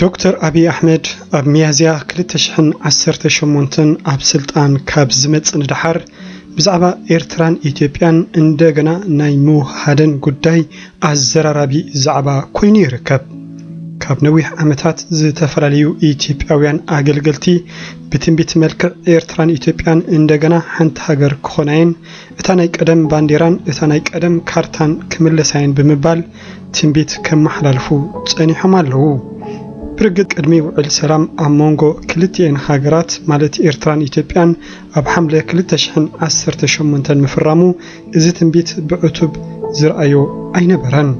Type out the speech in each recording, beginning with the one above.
ዶክተር ኣብይ ኣሕመድ ኣብ ሚያዝያ ክልተ ሽሕን ዓሰርተ ሸሞንተን ኣብ ስልጣን ካብ ዝመጽእ ንደሓር ብዛዕባ ኤርትራን ኢትዮጵያን እንደገና ናይ ምውህሃደን ጉዳይ ኣዘራራቢ ዛዕባ ኮይኑ ይርከብ። ካብ ነዊሕ ዓመታት ዝተፈላለዩ ኢትዮጵያውያን ኣገልገልቲ ብትንቢት መልክዕ ኤርትራን ኢትዮጵያን እንደገና ሓንቲ ሃገር ክኾናየን፣ እታ ናይ ቀደም ባንዴራን እታ ናይ ቀደም ካርታን ክምለሳየን ብምባል ትንቢት ከመሓላልፉ ጸኒሖም ኣለዉ። ብርግጽ ቅድሚ ውዕል ሰላም ኣብ መንጎ ክልቲኤን ሃገራት ማለት ኤርትራን ኢትዮጵያን ኣብ ሓምለ ክልተ ሽሕን ዓሰርተ ሸሞንተን ምፍራሙ እዚ ትንቢት ብዕቱብ ዝርኣዮ ኣይነበረን።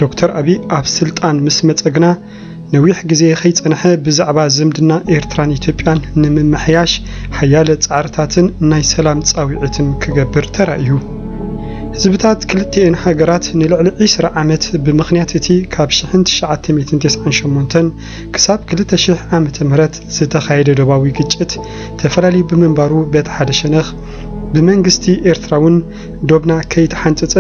ዶክተር ኣቢይ ኣብ ስልጣን ምስ መጸ ግና ነዊሕ ግዜ ከይጸንሐ ብዛዕባ ዝምድና ኤርትራን ኢትዮጵያን ንምምሕያሽ ሓያለ ጻዕርታትን ናይ ሰላም ጻዊዒትን ክገብር ተራእዩ። ህዝብታት ክልቲኤን ሃገራት ንልዕሊ ዕስራ ዓመት ብምኽንያት እቲ ካብ ሽሕን ትሽዓተ ሚእትን ተስዓን ሸሞንተን ክሳብ ክልተ ሽሕ ዓመተ ምህረት ዝተኻየደ ዶባዊ ግጭት ተፈላልዩ ብምንባሩ በቲ ሓደ ሸነኽ ብመንግስቲ ኤርትራውን ዶብና ከይተሓንጸጸ፣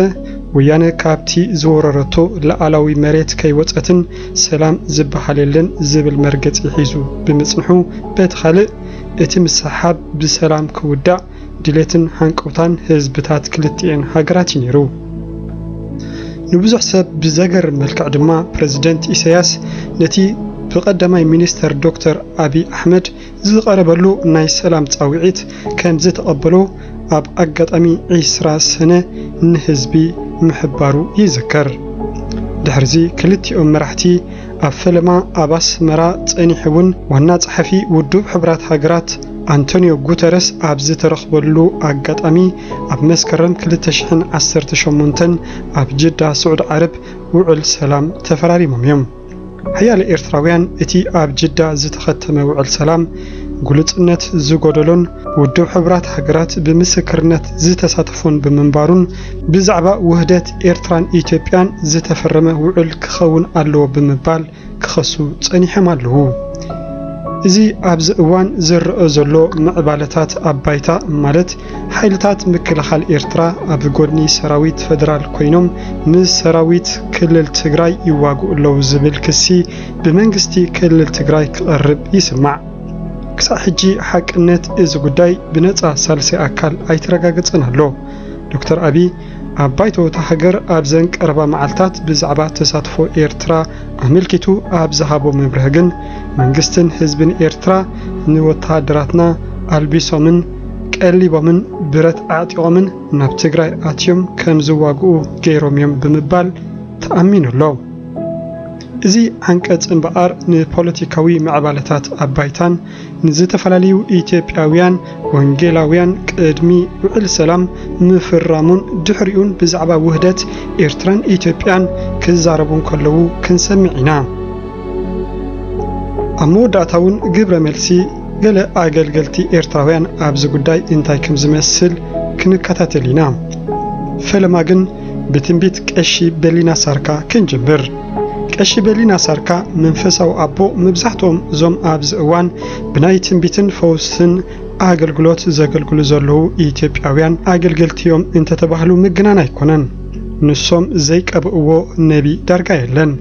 ወያነ ካብቲ ዝወረረቶ ልኣላዊ መሬት ከይወጸትን ሰላም ዝበሃል የለን ዝብል መርገጺ ሒዙ ብምጽንሑ፣ በቲ ካልእ እቲ ምስሕሓብ ብሰላም ክውዳእ ድሌትን ሃንቀውታን ህዝብታት ክልቲኤን ሃገራት እዩ ነይሩ። ንብዙሕ ሰብ ብዘገርም መልክዕ ድማ ፕረዚደንት ኢሳያስ ነቲ ብቀዳማይ ሚኒስተር ዶክተር ኣቢይ ኣሕመድ ዝቐረበሉ ናይ ሰላም ጻውዒት ከምዝተቐበሎ ኣብ ኣጋጣሚ ዕስራ ሰነ ንህዝቢ ምሕባሩ ይዝከር። ድሕሪዚ ክልቲኦም መራሕቲ ኣብ ፈለማ ኣብ ኣስመራ ጸኒሑ'ውን ዋና ጸሓፊ ውዱብ ሕቡራት ሃገራት ኣንቶንዮ ጉተረስ ኣብ ዝተረኽበሉ ኣጋጣሚ ኣብ መስከረም ክልተ ሽሕን ዓሰርተ ሸሞንተን ኣብ ጅዳ ስዑዲ ዓረብ ውዕል ሰላም ተፈራሪሞም እዮም። ሓያለ ኤርትራውያን እቲ ኣብ ጅዳ ዝተኸተመ ውዕል ሰላም ግሉጽነት ዝጎደሎን ውድብ ሕቡራት ሃገራት ብምስክርነት ዝተሳተፎን ብምንባሩን ብዛዕባ ውህደት ኤርትራን ኢትዮጵያን ዝተፈረመ ውዕል ክኸውን ኣለዎ ብምባል ክኸሱ ጸኒሖም ኣለዉ። እዚ ኣብዚ እዋን ዝረኣ ዘሎ ምዕባለታት ኣብ ባይታ ማለት ሓይልታት ምክልኻል ኤርትራ ኣብ ጎድኒ ሰራዊት ፈደራል ኮይኖም ምስ ሰራዊት ክልል ትግራይ ይዋግኡ ኣለዉ ዝብል ክሲ ብመንግስቲ ክልል ትግራይ ክቐርብ ይስማዕ። ክሳዕ ሕጂ ሓቅነት እዚ ጉዳይ ብነጻ ሳልሳይ ኣካል ኣይተረጋገጸን ኣሎ። ዶክተር ኣቢይ ኣብ ባይቶ እታ ሃገር ኣብዘን ቀረባ መዓልታት ብዛዕባ ተሳትፎ ኤርትራ ኣመልኪቱ ኣብ ዝሃቦ መብርሂ ግን መንግስትን ህዝብን ኤርትራ ንወተሃደራትና ኣልቢሶምን ቀሊቦምን ብረት ኣዕጢቖምን ናብ ትግራይ ኣትዮም ከም ዝዋግኡ ገይሮም እዮም ብምባል ተኣሚኑ ኣሎ። እዚ ዓንቀፅ እምበኣር ንፖለቲካዊ ምዕባለታት ኣብ ባይታን ንዝተፈላለዩ ኢትዮጵያውያን ወንጌላውያን ቅድሚ ውዕል ሰላም ምፍራሙን ድሕሪኡን ብዛዕባ ውህደት ኤርትራን ኢትዮጵያን ክዛረቡ እንከለዉ ክንሰምዕ ኢና። ኣብ መወዳእታውን ግብረ መልሲ ገለ ኣገልገልቲ ኤርትራውያን ኣብዚ ጉዳይ እንታይ ከም ዝመስል ክንከታተል ኢና። ፈለማ ግን ብትንቢት ቀሺ በሊና ሳርካ ክንጅምር። ቀሺ በሊና ሳርካ መንፈሳዊ ኣቦ መብዛሕትኦም እዞም ኣብዚ እዋን ብናይ ትንቢትን ፈውስን ኣገልግሎት ዘገልግሉ ዘለዉ ኢትዮጵያውያን ኣገልገልቲዮም እንተተባህሉ ምግናን ኣይኮነን። ንሶም ዘይቀብእዎ ነቢ ዳርጋ የለን።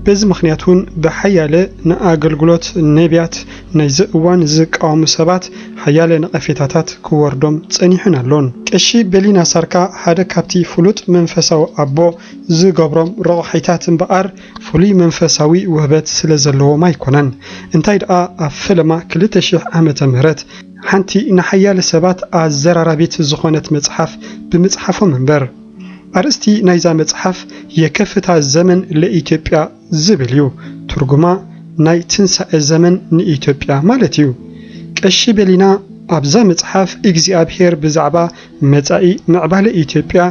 በዚ ምኽንያት እውን ብሓያለ ንኣገልግሎት ነቢያት ናይዚ እዋን ዝቃወሙ ሰባት ሓያለ ነቐፌታታት ክወርዶም ጸኒሑን ኣሎን። ቀሺ ቤሊናሳርካ ሓደ ካብቲ ፍሉጥ መንፈሳዊ ኣቦ ዝገብሮም ረቋሒታት እምበኣር ፍሉይ መንፈሳዊ ውህበት ስለ ዘለዎም ኣይኰነን። እንታይ ደኣ ኣብ ፈለማ ክልተ ሽሕ ዓመተ ምህረት ሓንቲ ንሓያለ ሰባት ኣዘራራቢት ዝዀነት መጽሓፍ ብምጽሓፎም እምበር። ኣርእስቲ ናይዛ መጽሓፍ የከፍታ ዘመን ለኢትዮጵያ ዝብል እዩ ትርጉማ ናይ ትንሳኤ ዘመን ንኢትዮጵያ ማለት እዩ ቀሺ ቤሊና ኣብዛ መጽሓፍ እግዚኣብሄር ብዛዕባ መጻኢ ምዕባለ ኢትዮጵያ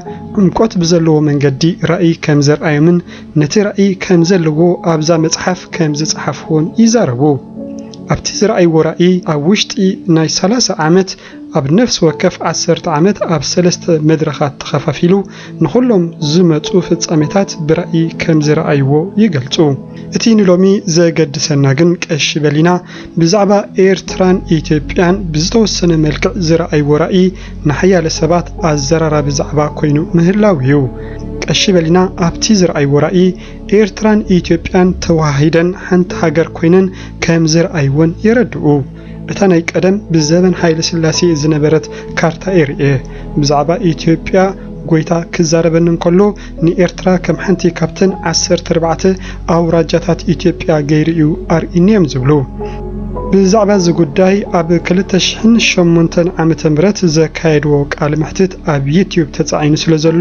ዕምቆት ብዘለዎ መንገዲ ራእይ ከም ዘርኣዮምን ነቲ ራእይ ከም ዘለዎ ኣብዛ መጽሓፍ ከም ዝጸሓፍዎን ይዛረቡ ኣብቲ ዝረኣይዎ ራእይ ኣብ ውሽጢ ናይ ሰላሳ ዓመት ኣብ ነፍሲ ወከፍ ዓሰርተ ዓመት ኣብ ሰለስተ መድረኻት ተኸፋፊሉ ንኹሎም ዝመጹ ፍጻሜታት ብራኢ ከም ዝረኣይዎ ይገልጹ። እቲ ንሎሚ ዘገድሰና ግን ቀሺ በሊና ብዛዕባ ኤርትራን ኢትዮጵያን ብዝተወሰነ መልክዕ ዝረኣይዎ ራኢ ንሓያለ ሰባት ኣዘራራቢ ዛዕባ ኮይኑ ምህላው እዩ። ቀሺ በሊና ኣብቲ ዝረኣይዎ ራኢ ኤርትራን ኢትዮጵያን ተወሃሂደን ሓንቲ ሃገር ኮይነን ከም ዝረኣይወን የረድኡ። እታ ናይ ቀደም ብዘበን ሃይለ ስላሴ ዝነበረት ካርታ'የ ርእየ። ብዛዕባ ኢትዮጵያ ጎይታ ክዛረበኒ እንከሎ ንኤርትራ ከም ሓንቲ ካብተን ዓሰርተ ኣርባዕተ ኣውራጃታት ኢትዮጵያ ገይሩ'ዩ ኣርኢኒ'ዮም ዝብሉ። ብዛዕባ እዚ ጉዳይ ኣብ ክልተ ሽሕን ሸሞንተን ዓመተ ምህረት ዘካየድዎ ቃለ መሕትት ኣብ ዩትዩብ ተጻዒኑ ስለዘሎ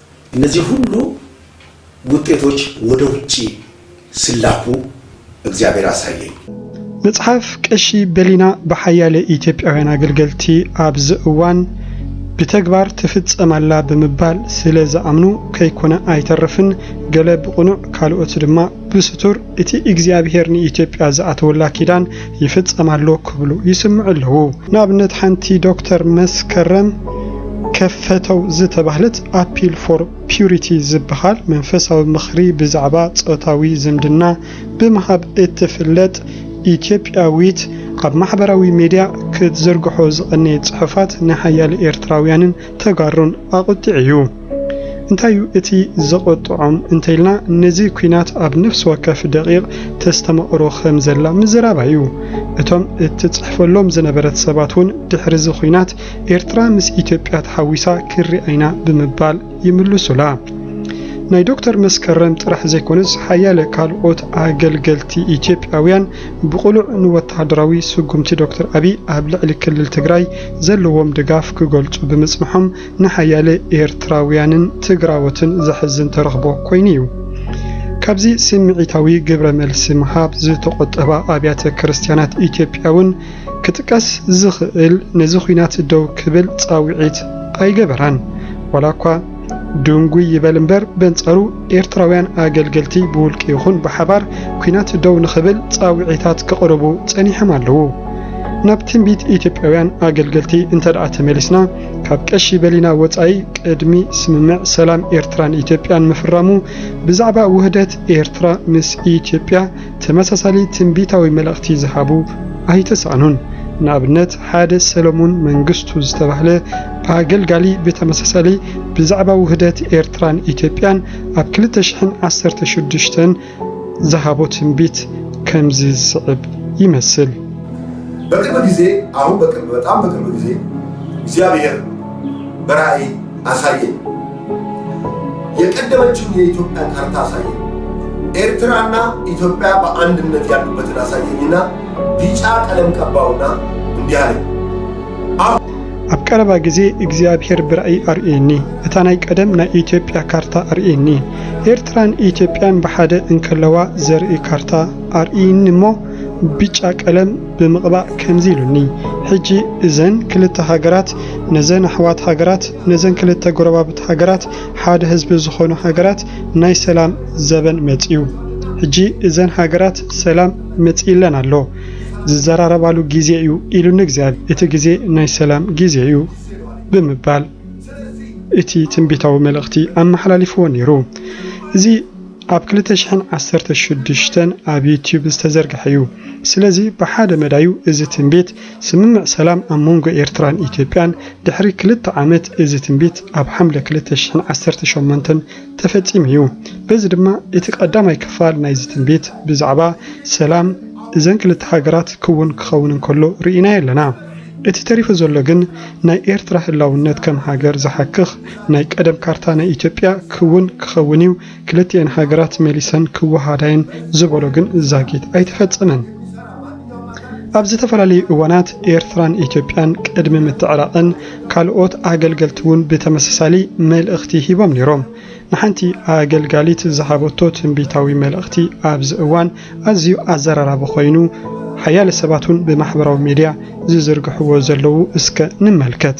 እነዚህ ሁሉ ውጤቶች ወደ ውጪ ሲላኩ እግዚአብሔር አሳየኝ። መጽሓፍ ቀሺ በሊና ብሓያለ ኢትዮጵያውያን ኣገልገልቲ ኣብዚ እዋን ብተግባር ትፍጸም ኣላ ብምባል ስለ ዝኣምኑ ከይኮነ ኣይተርፍን፣ ገለ ብቕኑዕ ካልኦት ድማ ብስቱር እቲ እግዚኣብሄር ንኢትዮጵያ ዝኣተወላ ኪዳን ይፍጸም ኣሎ ክብሉ ይስምዑ ኣለዉ። ንኣብነት ሓንቲ ዶክተር መስከረም ከፈተው ዝተባህለት ኣፒል ፎር ፒዩሪቲ ዝበሃል መንፈሳዊ ምኽሪ ብዛዕባ ጾታዊ ዝምድና ብምሃብ እትፍለጥ ኢትዮጵያዊት ኣብ ማሕበራዊ ሚድያ ክትዝርግሖ ዝቐነየት ጽሑፋት ንሓያለ ኤርትራውያንን ተጋሩን ኣቁጢዑ እዩ። እንታይ እዩ እቲ ዘቆጥዖም እንተኢልና ነዚ ኩናት ኣብ ነፍሲ ወከፍ ደቂቅ ተስተማቅሮ ከም ዘላ ምዝራባ እዩ። እቶም እትጽሕፈሎም ዝነበረት ሰባት እውን ድሕሪ እዚ ኩናት ኤርትራ ምስ ኢትዮጵያ ተሓዊሳ ክንሪኣ ኢና ብምባል ይምልሱላ። ናይ ዶክተር መስከረም ጥራሕ ዘይኮነስ ሓያለ ካልኦት ኣገልገልቲ ኢትዮጵያውያን ብቕሉዕ ንወተሃደራዊ ስጉምቲ ዶክተር ኣቢይ ኣብ ልዕሊ ክልል ትግራይ ዘለዎም ድጋፍ ክገልፁ ብምፅንሖም ንሓያለ ኤርትራውያንን ትግራዎትን ዘሕዝን ተረኽቦ ኮይኑ እዩ። ካብዚ ስምዒታዊ ግብረ መልሲ ምሃብ ዝተቖጠባ ኣብያተ ክርስትያናት ኢትዮጵያ እውን ክጥቀስ ዝኽእል ነዚ ኲናት ደው ክብል ፃውዒት ኣይገበራን ዋላ እኳ ድንጉይ ይበል እምበር በንጻሩ ኤርትራውያን ኣገልገልቲ ብውልቂ ይኹን ብሓባር ኲናት ደው ንኽብል ጻውዒታት ክቕርቡ ጸኒሖም ኣለዉ። ናብ ትንቢት ኢትዮጵያውያን ኣገልገልቲ እንተደኣ ተመሊስና ካብ ቀሺ በሊና ወጻኢ ቅድሚ ስምምዕ ሰላም ኤርትራን ኢትዮጵያን ምፍራሙ ብዛዕባ ውህደት ኤርትራ ምስ ኢትዮጵያ ተመሳሳሊ ትንቢታዊ መልእኽቲ ዝሃቡ ኣይተሳእኑን። ንኣብነት ሓደ ሰለሙን መንግስቱ ዝተባህለ ኣገልጋሊ ብተመሳሳሊ ብዛዕባ ውህደት ኤርትራን ኢትዮጵያን ኣብ ክልተ ሽሕን ዓሰርተ ሽዱሽተን ዝሃቦ ትንቢት ከምዚ ዝስዕብ ይመስል። በቅርብ ጊዜ አሁን በቅርብ በጣም በቅርብ ጊዜ እግዚአብሔር በራእይ አሳየኝ የቀደመችውን የኢትዮጵያ ካርታ አሳየኝ ኤርትራና ኢትዮጵያ በአንድነት ያሉበትን አሳየኝና ቢጫ ቀለም ቀባውና እንዲህ አለኝ ኣብ ቀረባ ግዜ እግዚኣብሔር ብራእይ ኣርእየኒ እታ ናይ ቀደም ናይ ኢትዮጵያ ካርታ ኣርእየኒ ኤርትራን ኢትዮጵያን ብሓደ እንከለዋ ዘርኢ ካርታ ኣርእይኒ እሞ ብጫ ቀለም ብምቕባእ ከምዚ ኢሉኒ ሕጂ እዘን ክልተ ሃገራት ነዘን ኣሕዋት ሃገራት ነዘን ክልተ ጎረባብቲ ሃገራት ሓደ ህዝቢ ዝኾኑ ሃገራት ናይ ሰላም ዘበን መጺኡ ሕጂ እዘን ሃገራት ሰላም መጺኢለን ኣሎ ዝዘራረባሉ ግዜ እዩ ኢሉኒ እግዚኣብሔር እቲ ግዜ ናይ ሰላም ግዜ እዩ ብምባል እቲ ትንቢታዊ መልእኽቲ ኣመሓላሊፍዎ ነይሩ እዚ ኣብ ክልተ ሽሕን ዓሰርተ ሽዱሽተን ኣብ ዩትዩብ ዝተዘርግሐ እዩ። ስለዚ ብሓደ መዳዩ እዚ ትንቢት ስምምዕ ሰላም ኣብ መንጎ ኤርትራን ኢትዮጵያን ድሕሪ ክልተ ዓመት እዚ ትንቢት ኣብ ሓምለ ክልተ ሽሕን ዓሰርተ ሸሞንተን ተፈጺሙ እዩ። በዚ ድማ እቲ ቀዳማይ ክፋል ናይዚ ትንቢት ብዛዕባ ሰላም እዘን ክልተ ሃገራት ክውን ክኸውን እንከሎ ርኢናዮ ኣለና። እቲ ተሪፉ ዘሎ ግን ናይ ኤርትራ ህላውነት ከም ሃገር ዝሓክኽ ናይ ቀደም ካርታ ናይ ኢትዮጵያ ክውን ክኸውን እዩ ክልቲኤን ሃገራት መሊሰን ክወሃሃዳ'የን ዝበሎ ግን ዛጊት ኣይተፈጸመን። ኣብ ዝተፈላለዩ እዋናት ኤርትራን ኢትዮጵያን ቅድሚ ምትዕራቐን ካልኦት ኣገልገልቲ'ውን ብተመሳሳሊ መልእኽቲ ሂቦም ነይሮም። ንሓንቲ ኣገልጋሊት ዝሃበቶ ትንቢታዊ መልእኽቲ ኣብዚ እዋን ኣዝዩ ኣዘራራቢ ኮይኑ ሓያለ ሰባት'ውን ብማሕበራዊ ሚድያ ዝዝርግሕዎ ዘለዉ እስከ ንመልከት።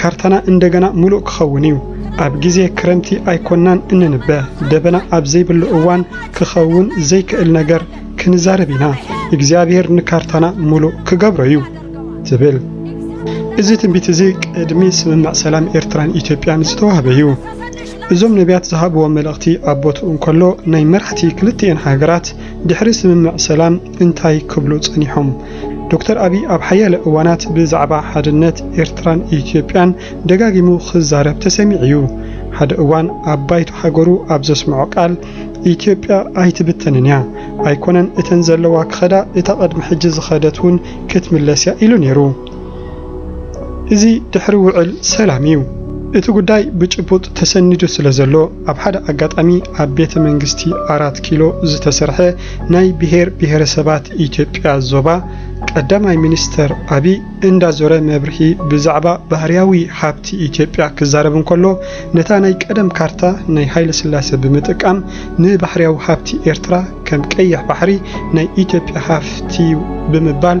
ካርታና እንደገና ምሉእ ክኸውን እዩ። ኣብ ግዜ ክረምቲ ኣይኮናን እንንበ፣ ደበና ኣብ ዘይብሉ እዋን ክኸውን ዘይክእል ነገር ክንዛረብ ኢና። እግዚኣብሄር ንካርታና ምሉእ ክገብሮ እዩ ትብል። እዚ ትንቢት እዚ ቅድሚ ስምምዕ ሰላም ኤርትራን ኢትዮጵያን ዝተዋህበ እዩ። እዞም ነቢያት ዝሃብዎ መልእኽቲ ኣብ ቦትኡ እንከሎ ናይ መራሕቲ ክልቲኤን ሃገራት ድሕሪ ስምምዕ ሰላም እንታይ ክብሉ ጸኒሖም? ዶክተር ኣቢይ ኣብ ሓያለ እዋናት ብዛዕባ ሓድነት ኤርትራን ኢትዮጵያን ደጋጊሙ ክዛረብ ተሰሚዑ'ዩ። ሓደ እዋን ኣብ ባይቶ ሃገሩ ኣብ ዘስመዖ ቃል፣ ኢትዮጵያ ኣይትብተንን'ያ፣ ኣይኮነን እተን ዘለዋ ክኸዳ እታ ቅድሚ ሕጂ ዝኸደት'ውን ክትምለስ'ያ ኢሉ ነይሩ። እዚ ድሕሪ ውዕል ሰላም እዩ። እቲ ጉዳይ ብጭቡጥ ተሰኒዱ ስለዘሎ ኣብ ሓደ ኣጋጣሚ ኣብ ቤተ መንግስቲ ኣራት ኪሎ ዝተሰርሐ ናይ ብሄር ብሄረሰባት ኢትዮጵያ ዞባ ቀዳማይ ሚኒስተር ኣቢይ እንዳዞረ መብርሂ ብዛዕባ ባህርያዊ ሃብቲ ኢትዮጵያ ክዛረብ እንከሎ ነታ ናይ ቀደም ካርታ ናይ ሃይለስላሴ ብምጥቃም ንባህርያዊ ሃብቲ ኤርትራ ከም ቀይሕ ባሕሪ ናይ ኢትዮጵያ ሃፍቲዩ ብምባል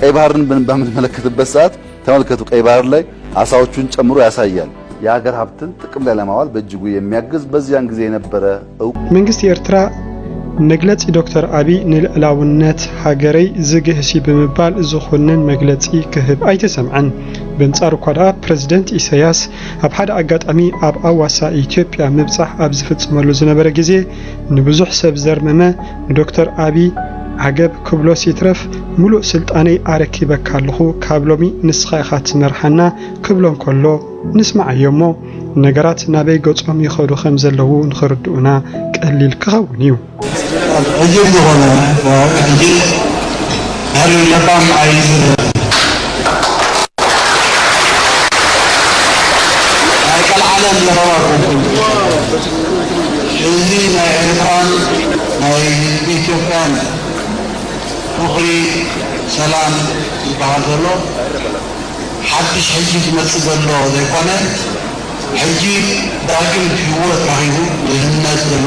ቀይ ባህርን በምንመለከትበት ሰዓት ተመልከቱ። ቀይ ባህር ላይ አሳዎቹን ጨምሮ ያሳያል። የሀገር ሀብትን ጥቅም ላይ ለማዋል በእጅጉ የሚያግዝ በዚያን ጊዜ የነበረ እውቅ መንግስቲ ኤርትራ መግለጺ ዶክተር ኣቢይ ንልዕላውነት ሃገረይ ዝግህሲ ብምባል ዝኹንን መግለጺ ክህብ ኣይተሰምዐን። በንጻሩ እኳ ደኣ ፕረዚደንት ኢሳያስ ኣብ ሓደ ኣጋጣሚ ኣብ ኣዋሳ ኢትዮጵያ ምብጻሕ ኣብ ዝፍጽመሉ ዝነበረ ግዜ ንብዙሕ ሰብ ዘርመመ ንዶክተር ኣቢይ ዓገብ ክብሎስ ይትረፍ ምሉእ ስልጣነይ ኣረኪበካ ኣለኹ ካብ ሎሚ ንስኻ ኢኻ ትመርሓና ክብሎ እንከሎ ንስማዓዮ'ሞ ነገራት ናበይ ገጾም ይኸዱ ከም ዘለዉ ንኽርድኡና ቀሊል ክኸውን እዩ። ኣበይ ለባም ኣይዝረብን ናይ ቀልዓለም ዘረባ ኮንኩም እዚ ናይ ኤርትራን ናይ ህዝቢ ኢትዮጵያን ፍቅሪ ሰላም ዝባሃል ዘሎ ሓድሽ ሕጂ ዝመጽእ ዘሎ ዘይኮነ ሕጂ ዳግም ሂወት ረኺቡ ድህነት ዘሎ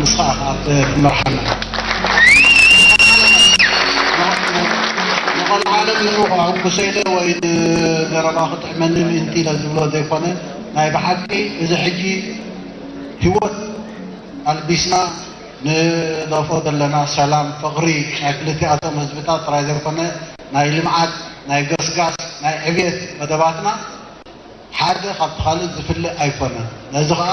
ንስኻ ኢኻ ትመርሓና ዝኾነ ማለት ንዑ ከሐጉሰኢለ ወይ ንዘረባ ክጥዕመኒ ምእንቲ ኢለ ዝብሎ ዘይኮነ ናይ ብሓቂ እዚ ሕጂ ሂወት ኣልቢስና ንደፍኦ ዘለና ሰላም ፍቕሪ ናይ ክልቲኣቶም ህዝብታት ጥራይ ዘይኮነ ናይ ልምዓት ናይ ገስጋስ ናይ ዕብየት መደባትና ሓደ ካብቲ ካልእ ዝፍለ ኣይኮነን ነዚ ኸኣ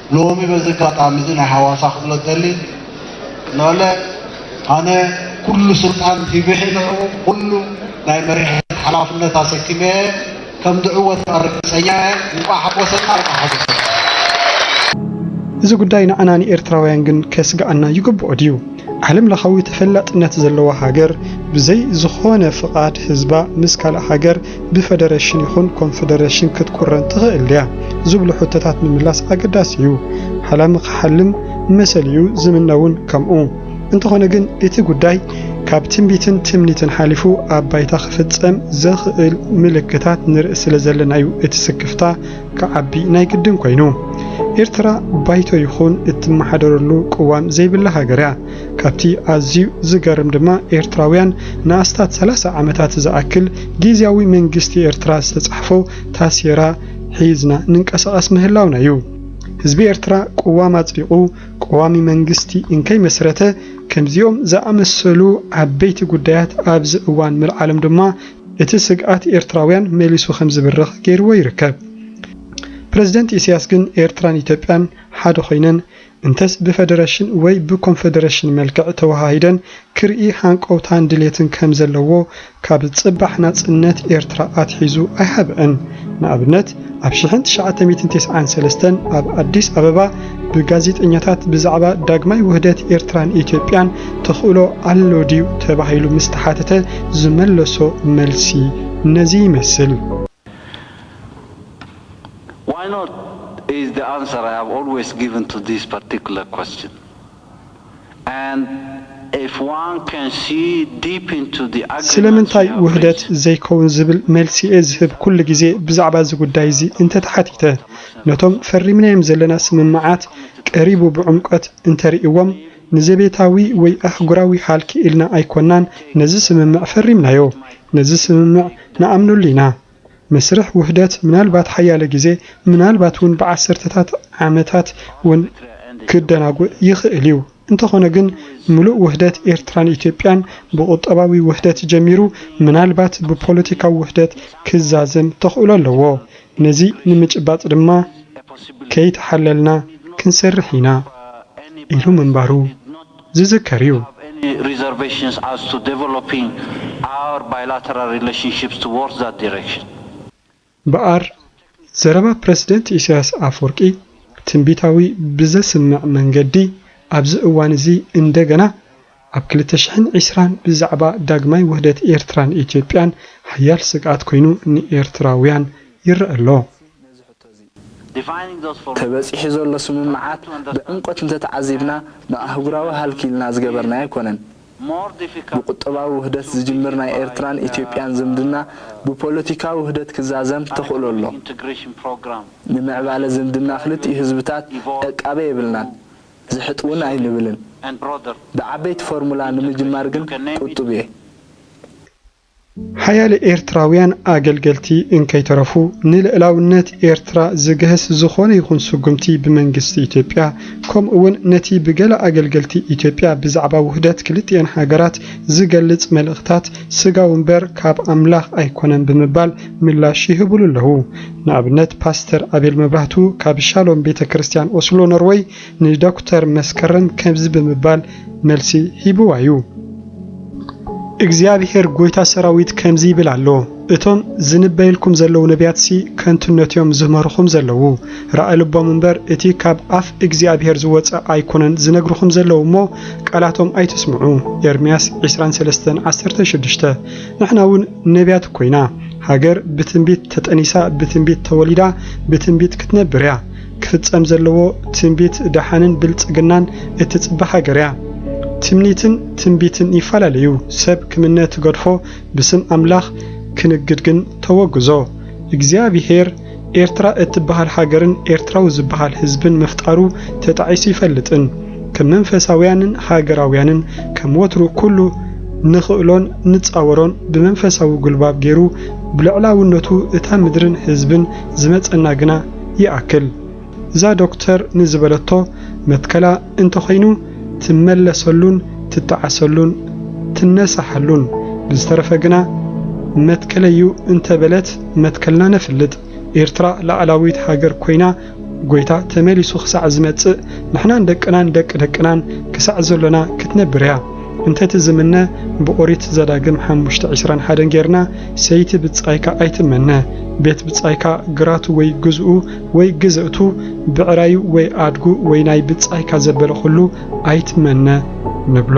ሎሚ በዚ ኣጋጣሚ እዚ ናይ ሃዋሳ ክብሎ ዝደሊ ንዕለ ኣነ ኩሉ ስልጣን ሂብሒ ንዕኡ ኩሉ ናይ መሪሕነት ሓላፍነት ኣሰኪመ ከም ዝዕወት ከኣ ርግጸኛ እየ። እንቋዕ ሓጎሰና እንቋዕ ሓጎሰኩም። እዚ ጉዳይ ንዓና ንኤርትራውያን ግን ከስግኣና ይግብኦ ድዩ? ዓለም ለኻዊ ተፈላጥነት ዘለዋ ሃገር ብዘይ ዝኾነ ፍቓድ ህዝባ ምስ ካልእ ሃገር ብፈደረሽን ይኹን ኮንፈደረሽን ክትቁረን ትኽእል ድያ? ዝብሉ ሕቶታት ምምላስ ኣገዳሲ እዩ። ሓላሚ ክሓልም መሰል'ዩ፣ ዝምነ'ውን ከምኡ። እንተኾነ ግን እቲ ጉዳይ ካብ ትንቢትን ትምኒትን ሓሊፉ ኣብ ባይታ ክፍጸም ዘኽእል ምልክታት ንርኢ ስለዘለና'ዩ እቲ ስክፍታ ክዓቢ ናይ ግድን ኮይኑ። ኤርትራ ባይቶ ይኹን እትመሓደረሉ ቅዋም ዘይብላ ሃገር'ያ። ካብቲ ኣዝዩ ዝገርም ድማ ኤርትራውያን ንኣስታት ሰላሳ ዓመታት ዝኣክል ጊዝያዊ መንግስቲ ኤርትራ ዝተጻሕፎ ታሴራ ሒዝና ንንቀሳቐስ ምህላውና እዩ። ህዝቢ ኤርትራ ቅዋም ኣጽዲቑ ቀዋሚ መንግስቲ እንከይመስረተ ከምዚኦም ዝኣመሰሉ ዓበይቲ ጉዳያት ኣብዚ እዋን ምልዓሎም ድማ እቲ ስግኣት ኤርትራውያን መሊሱ ከምዝብርኽ ገይርዎ ይርከብ። ፕረዚደንት ኢሳያስ ግን ኤርትራን ኢትዮጵያን ሓደ ኮይነን እንተስ ብፈደረሽን ወይ ብኮንፈደረሽን መልክዕ ተወሃሂደን ክርኢ ሃንቀውታን ድሌትን ከም ዘለዎ ካብ ጽባሕ ናጽነት ኤርትራ ኣትሒዙ ኣይሃብዐን። ንኣብነት ኣብ ሽሕን ትሽዓተ ሚእትን ተስዓን ሰለስተን ኣብ ኣዲስ ኣበባ ብጋዜጠኛታት ብዛዕባ ዳግማይ ውህደት ኤርትራን ኢትዮጵያን ተኽእሎ ኣሎ ድዩ ተባሂሉ ምስ ተሓተተ ዝመለሶ መልሲ ነዚ ይመስል። ዋይ ኖት ኢዝ ዘ ኣንሰር ኣይ ሃቭ ኣልወይስ ጊቭን ቱ ዚስ ፓርቲኩላር ኳስችን ኣንድ ኢፍ ዋን ካን ሲ ዲፕ ኢንቱ ዘ ኣግሪመንትስ ዩ ስለምንታይ ሃቭ ውህደት ሪችድ። ዘይከውን ዝብል መልሲ'የ ዝህብ ኩሉ ግዜ ብዛዕባ እዚ ጉዳይ እዚ እንተ ተሓቲተ። ነቶም ፈሪምናዮም ዘለና ስምምዓት ቀሪቡ ብዕምቆት እንተ ርእይዎም፣ ንዘቤታዊ ወይ ኣህጉራዊ ሃልኪ ኢልና ኣይኮናን ነዚ ስምምዕ ፈሪምናዮ። ነዚ ስምምዕ ንኣምነሉ ኢና። መስርሕ ውህደት ምናልባት ሓያለ ግዜ፣ ምናልባት እውን ብዓሰርተታት ዓመታት እውን ክደናጉእ ይኽእል እዩ። እንተኾነ ግን ምሉእ ውህደት ኤርትራን ኢትዮጵያን ብቁጠባዊ ውህደት ጀሚሩ ምናልባት ብፖለቲካዊ ውህደት ክዛዘም ተኽእሎ ኣለዎ። ነዚ ንምጭባጥ ድማ ከይተሓለልና ክንሰርሕ ኢና ኢሉ ምንባሩ። ዝዝከር እዩ። እምበኣር፣ ዘረባ ፕረሲደንት ኢሳያስ ኣፍወርቂ ትንቢታዊ ብዘስምዕ መንገዲ፣ ኣብዚ እዋን እዚ እንደገና ኣብ ክልተ ሽሕን ዕስራን ብዛዕባ ዳግማይ ውህደት ኤርትራን ኢትዮጵያን ሓያል ስግኣት ኮይኑ ንኤርትራውያን ይረኣ ኣሎ። ተበጺሑ ዘሎ ስምምዓት ብዕምቆት እንተተዓዚብና ንኣህጉራዊ ሃልኪ ኢልና ዝገበርናዮ ኣይኮነን። ብቁጠባዊ ውህደት ዝጅምር ናይ ኤርትራን ኢትዮጵያን ዝምድና ብፖለቲካዊ ውህደት ክዛዘም ተኽእሎ ኣሎ። ንምዕባለ ዝምድና ክልቲኡ ህዝብታት ዕቃበ የብልናን፣ ዝሕጥ'ውን ኣይንብልን። ብዓበይቲ ፎርሙላ ንምጅማር ግን ቁጡብ'የ። ሓያለ ኤርትራውያን ኣገልገልቲ እንከይተረፉ፣ ንልእላውነት ኤርትራ ዝግህስ ዝኾነ ይኹን ስጉምቲ ብመንግስቲ ኢትዮጵያ፣ ከምኡ'ውን ነቲ ብገለ ኣገልገልቲ ኢትዮጵያ ብዛዕባ ውህደት ክልቲኤን ሃገራት ዝገልጽ መልእኽታት ስጋዊ እምበር ካብ ኣምላኽ ኣይኮነን ብምባል ምላሽ ይህቡሉ ኣለዉ። ንኣብነት ፓስተር ኣቤል መብራህቱ ካብ ሻሎም ቤተ ክርስትያን ኦስሎ ኖርወይ፣ ንዶክተር መስከረም ከምዚ ብምባል መልሲ ሂብዋ እዩ። እግዚኣብሄር ጐይታ ሰራዊት ከምዚ ይብል ኣሎ፣ እቶም ዝንበዩልኩም ዘለዉ ነብያትሲ ከንቱነት እዮም ዝምህርኹም ዘለዉ፣ ራኢ ልቦም እምበር እቲ ካብ ኣፍ እግዚኣብሄር ዝወጸ ኣይኰነን ዝነግርኹም ዘለዉ እሞ፣ ቃላቶም ኣይትስምዑ። ኤርምያስ ዕስራን ሰለስተን ዓሰርተ ሽዱሽተ ንሕና እውን ነብያት እኮ ኢና። ሃገር ብትንቢት ተጠኒሳ ብትንቢት ተወሊዳ ብትንቢት ክትነብር እያ። ክፍጸም ዘለዎ ትንቢት ደሓንን ብልጽግናን እትጽበ ሃገር እያ። ትምኒትን ትንቢትን ይፈላለዩ ሰብ ክምነ ትገድፎ ብስም ኣምላኽ ክንግድ ግን ተወግዞ። እግዚኣብሄር ኤርትራ እትበሃል ሃገርን ኤርትራዊ ዝበሃል ህዝብን ምፍጣሩ ተጣዒሱ ይፈልጥን ከም መንፈሳውያንን ሃገራውያንን ከም ወትሩ ኩሉ ንኽእሎን ንጻወሮን ብመንፈሳዊ ጉልባብ ጌሩ ብልዕላውነቱ እታ ምድርን ህዝብን ዝመጸና ግና ይኣክል እዛ ዶክተር ንዝበለቶ መትከላ እንተኾይኑ ትመለሰሉን ትጠዓሰሉን ትነሳሓሉን ብዝተረፈ ግና መትከለይ'ዩ እንተበለት መትከልና ነፍልጥ ኤርትራ ላኣላዊት ሃገር ኮይና ጎይታ ተመሊሱ ክሳዕ ዝመጽእ ንሕናን ደቅናን ደቂ ደቅናን ክሳዕ ዘሎና ክትነብር'ያ። እንተቲ ዝምነ ብኦሪት ዘዳግም ሓሙሽተ ዕስራን ሓደን ጌርና ሰይቲ ብጻይካ ኣይትመነ ቤት ብጻይካ ግራቱ ወይ ግዝኡ ወይ ግዝእቱ ብዕራዩ ወይ ኣድጉ ወይ ናይ ብጻይካ ዘበለ ኩሉ ኣይትመነ ንብሎ።